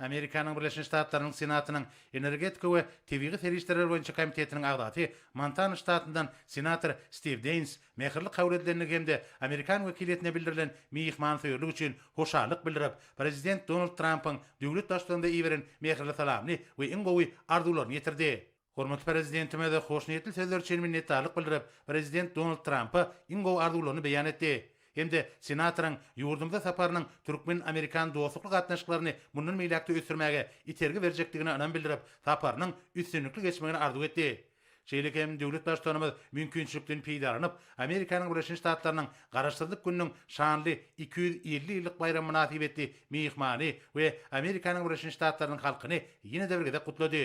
Amerikanyň Birleşen Ştatlarynyň Senatynyň Energetika we tebigy serişdeler boýunça komitetiniň agzasy, Montana ştatyndan senator Stiw Deýns mähirli kabul edilendigi hem-de amerikan wekiliýetine bildirilen myhmansöýerlik üçin hoşallyk bildirip, prezident Donald Trampyň döwlet baştuganyna iberen mähirli salamyny we iň gowy arzuwlaryny ýetirdi. Hormatly Prezidentimiz hoşniýetli sözler üçin minnetdarlyk bildirip, Prezident Donald Trampa iň gowy arzuwlaryny beýan etdi hem-de Senatoryň ýurdumyza saparynyň türkmen-amerikan dostlukly gatnaşyklaryny mundan beýläk-de ösdürmäge itergi berjekdigine ynam bildirip, saparynyň üstünlikli geçmegini arzuw etdi. Şeýle hem döwlet Baştutanymyz mümkinçilikden peýdalanyp, Amerikanyň Birleşen Ştatlarynyň Garaşsyzlyk gününiň şanly iki ýüz elli ýyllyk baýramy mynasybetli myhmany we Amerikanyň Birleşen Ştatlarynyň halkyny ýene-de bir gezek gutlady.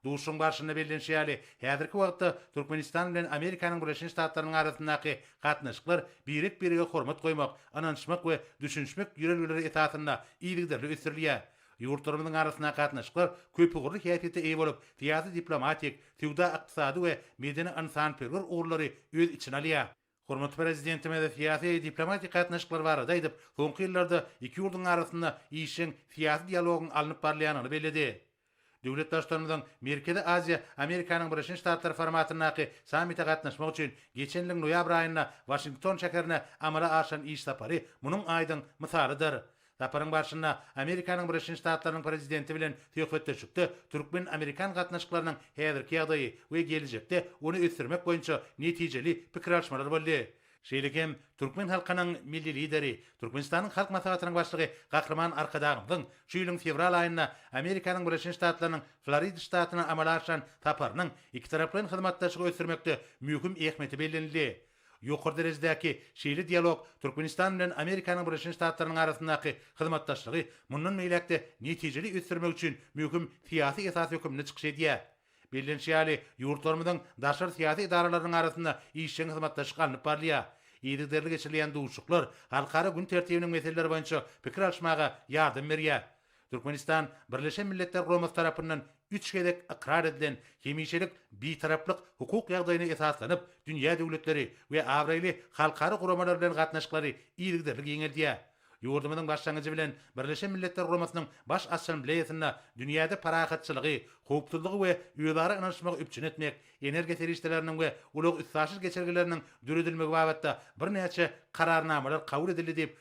Duşuşygyň barşynda bellenişi ýaly, häzirki wagtda Türkmenistan bilen Amerikanyň Birleşen Ştatlarynyň arasyndaky gatnaşyklar birek-birege hormat goýmak, ynanyşmak we düşünişmek ýörelgeleri esasynda yzygiderli ösdürilýär. Ýurtlarymyzyň arasyndaky gatnaşyklar köpugurly häsiýete eýe bolup, syýasy-diplomatik, söwda-ykdysady we medeni-ynsanperwer ugurlary öz içine alýar. Hormatly Prezidentimiz syýasy-diplomatik gatnaşyklar barada aýdyp, soňky ýyllarda iki ýurduň arasynda işjeň syýasy dialogyň alnyp barylýandygyny belledi. Döwlet Baştutanymyzyň Merkezi Aziýa, Amerikanyň Birleşen Ştatlary formatyndaky sammite gatnaşmak üçin geçen ýylyň noýabr aýynda Waşington şäherine amala aşyran iş sapary munuň aýdyň mysalydyr. Saparyň barşynda Amerikanyň Birleşen Ştatlarynyň Prezidenti bilen söhbetdeşlikde türkmen-amerikan gatnaşyklarynyň häzirki ýagdaýy we gelejekde ony ösdürmek boýunça netijeli pikir alyşmalar boldy. Şeýle hem türkmen halkynyň Milli Lideri, Türkmenistanyň Halk Maslahatynyň Başlygy Gahryman Arkadagymyzyň şu ýylyň fewral aýynda Amerikanyň Birleşen Ştatlarynyň Florida ştatyna amala aşyran saparynyň ikitaraplaýyn hyzmatdaşlygy ösdürmekde möhüm ähmiýeti bellenildi. Ýokary derejedäki şeýle dialog Türkmenistan bilen Amerikanyň Birleşen Ştatlarynyň arasyndaky hyzmatdaşlygy mundan beýläk-de netijeli ösdürmek üçin möhüm syýasy esas höküminde çykyş edýär. Bellenişi ýaly, ýurtlarymyzyň daşary syýasy edaralarynyň arasynda işjeň hyzmatdaşlyk alnyp barylýar. Yzygiderli geçirilýän duşuşyklar halkara gün tertibiniň meseleleri boýunça pikir alyşmaga ýardam berýär. Türkmenistan Birleşen Milletler Guramasy tarapyndan üç gezek ykrar edilen hemişelik Bitaraplyk hukuk ýagdaýyna esaslanyp, dünýä döwletleri we abraýly halkara guramalar bilen gatnaşyklary yzygiderli giňeldýär. Ýurdumyzyň başlangyjy bilen Birleşen Milletler Guramasynyň Baş Assambleýasynda dünýäde parahatçylygy, howpsuzlygy we özara ynanyşmagy üpjün etmek, energiýa serişdeleriniň we ulag-üstaşyr geçelgeleriniň döredilmegi babatda birnäçe Kararnamalar kabul edildi diýip,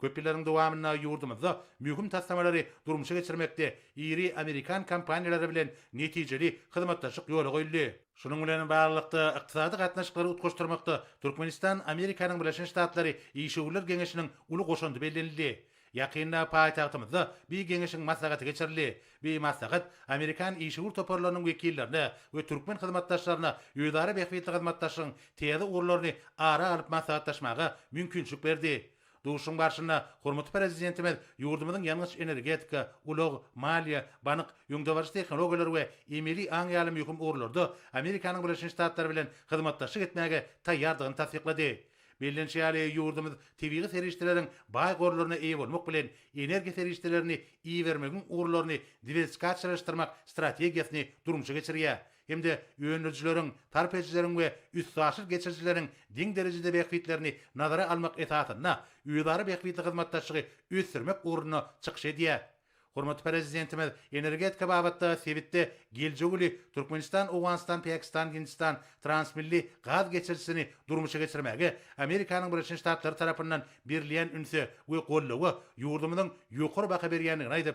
Köp ýyllaryň dowamynda ýurdumyzda möhüm taslamalary durmuşa geçirmekde iri amerikan kompaniýalary bilen netijeli hyzmatdaşlyk ýola goýuldy. Şunuň bilen baglylykda, ykdysady gatnaşyklary utgaşdyrmakda Türkmenistan, Amerikanyň Birleşen Ştatlary işewürler geňeşiniň uly goşandy bellenildi. Ýakynda paýtagtymyzda bi geňeşiň maslahaty geçirildi. Bi maslahat amerikan işewür toparlarynyň wekillerine we türkmen hyzmatdaşlaryna özara bähbitli hyzmatdaşlygyň täze ugurlaryny ara alyp maslahatlaşmaga mümkinçilik berdi. Duşuşygyň barşynda hormatly Prezidentimiz ýurdumyzyň ýangyç-energetika, ulag, maliýe, bank, öňdebaryjy tehnologiýalar we emeli aň ýaly möhüm ugurlarda Amerikanyň Birleşen Ştatlary bilen hyzmatdaşlyk etmäge taýýardygyny tassyklady. Bellenişi ýaly, ýurdumyz tebigy serişdeleriň baý gorlaryna eýe bolmak bilen, energiýa serişdelerini ibermegiň ugurlaryny diwersikasiýalaşdyrmak strategiýasyny durmuşa geçirýär, hem-de öndürijileriň, sarp edijileriň we üstaşyr geçirijileriň deň derejede bähbitlerini nazara almak esasynda özara bähbitli hyzmatdaşlygy ösdürmek ugrunda çykyş edýär. Hormatly Prezidentimiz energetika babatda sebitde geljegi uly Türkmenistan-Owganystan-Pakistan-Hindistan transmilli gaz geçirijisini durmuşa geçirmäge Amerikanyň Birleşen Ştatlary tarapyndan berilýän ünse we goldawa ýurdumyzyň ýokary baha berýändigini aýdyp,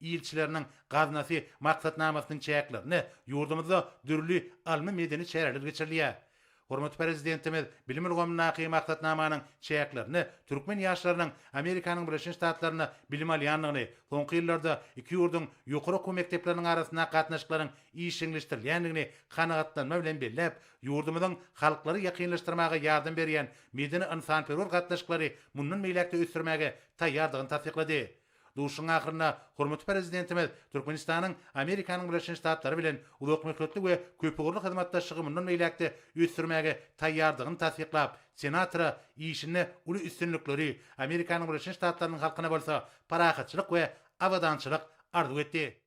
Ilçileriniň Gaznasy maksatnamasynyň çäklerinde ýurdumyzda dürli ylmy-medeni çäreler geçirilýär. Hormatly Prezidentimiz bilim ulgamyndaky maksatnamanyň çäklerinde türkmen ýaşlarynyň Amerikanyň Birleşen Ştatlarynda bilim alýandygyny, soňky ýyllarda iki ýurduň ýokary okuw mekdepleriniň arasyndaky gatnaşyklaryň işjeňleşdirilýändigini kanagatlanma bilen belläp, ýurdumyzyň halklary ýakynlaşdyrmaga ýardam berýän medeni-ynsanperwer gatnaşyklary mundan beýläk-de ösdürmäge taýýardygyny tassyklady. Duşuşygyň ahyrynda hormatly Prezidentimiz Türkmenistanyň Amerikanyň Birleşen Ştatlary bilen uzakmöhletli we köpugurly hyzmatdaşlygy mundan beýläk-de ösdürmäge taýýardygyny tassyklap, senatora işinde uly üstünlikleri, Amerikanyň Birleşen Ştatlarynyň halkyna bolsa parahatçylyk we abadançylyk arzuw etdi.